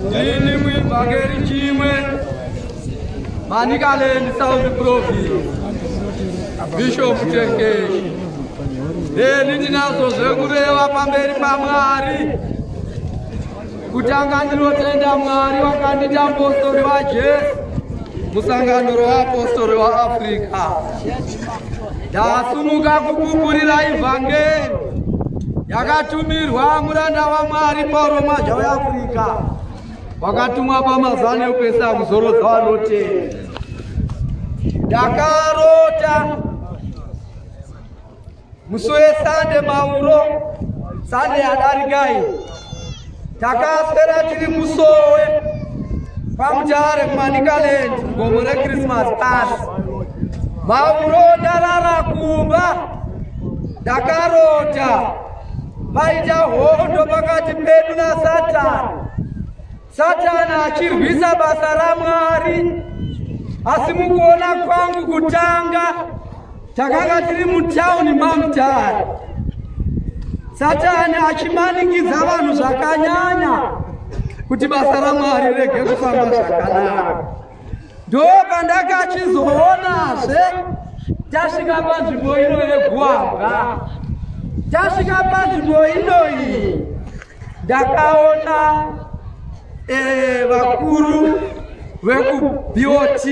Ndini muevhangeri chimwe Manicaland South Province Bishop Tengeshi Ndini ndinazo zvekureva pamberi paMwari kutanga ndinotenda Mwari wakandiita apostori waJesu musangano roapostori waAfrica Ndasumuka kupupurira ivhangeri yakatumirwa muranda waMwari Pauro Mwaja weAfrica wakatumwa pamazana ekuisa muzoro dzavanotenda. Ndakarota musi wesande mauro sande yadarika iyi takaswera tiri kusowe pamutare kumanikaland gomo rechristmas pasi mauro ndarara kumba ndakarota paita hondo pakati pedu nasatani Satana achirwisa basa raMwari. Asi mukuona kwangu kutanga takanga tiri mutauni mamutare. Satani achimanikidza vanhu zvakanyanya kuti basa raMwari rege kufamba zvakanaka. ndopandakachizoonazve tasvika panzvimbo ino yeguambwa tasvika panzvimbo inoyi ndakaona eh, vakuru vekubot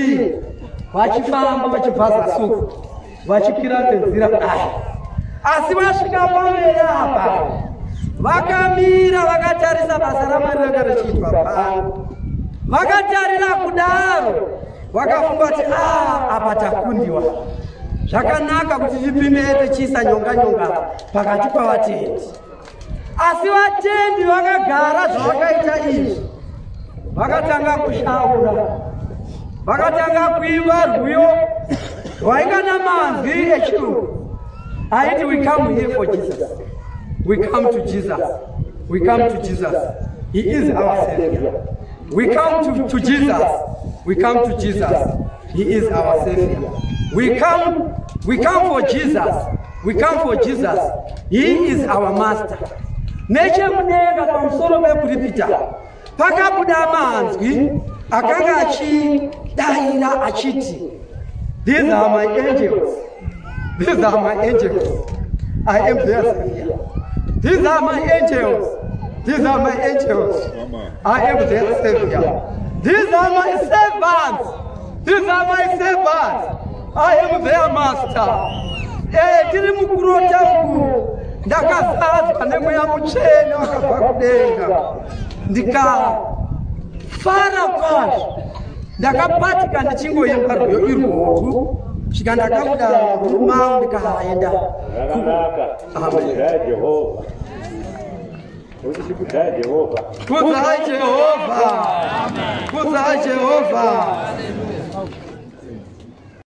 vachifamba vachibvaza suku vachikwira nenzira kudai asi vasvika pamene apa vakamira vakatarisa basa ramwari ranga richiitwa pano vakatarira kudaro vakafunga kuti a ah, apa takundiwa zvakanaka kuti tipimete chiisa nyonga nyonga pakati pavatendi asi vatendi vakagara zvavakaita izvi vakatanga kushaura vakatanga kuimba rwiyo rwainga namanzwi echirungu aiti we come here for jesus we come to jesus we come to jesus he is our savior we come to, to jesus we come to jesus He is our savior. We come, we come for Jesus. We come for Jesus. He is our master. Neche mudenga pamusoro pekuripita pakabuda manzwi akanga achidaira achiti these are my angels These are my angels. I am their savior. These are my angels. These are my angels. I am their savior. These are my servants. These are my servants. I am their master. Eh, tiri mukurota uku ndakazadzwa nemweya mutsvene wakabva kudenga ndikafara kwazvo ndakabatika ndichingoimba rwiyo irwoku svika ndakabuda rumau ndikaenda Kudzai Jehovha. Kudzai Jehovha. Kudzai Jehovha.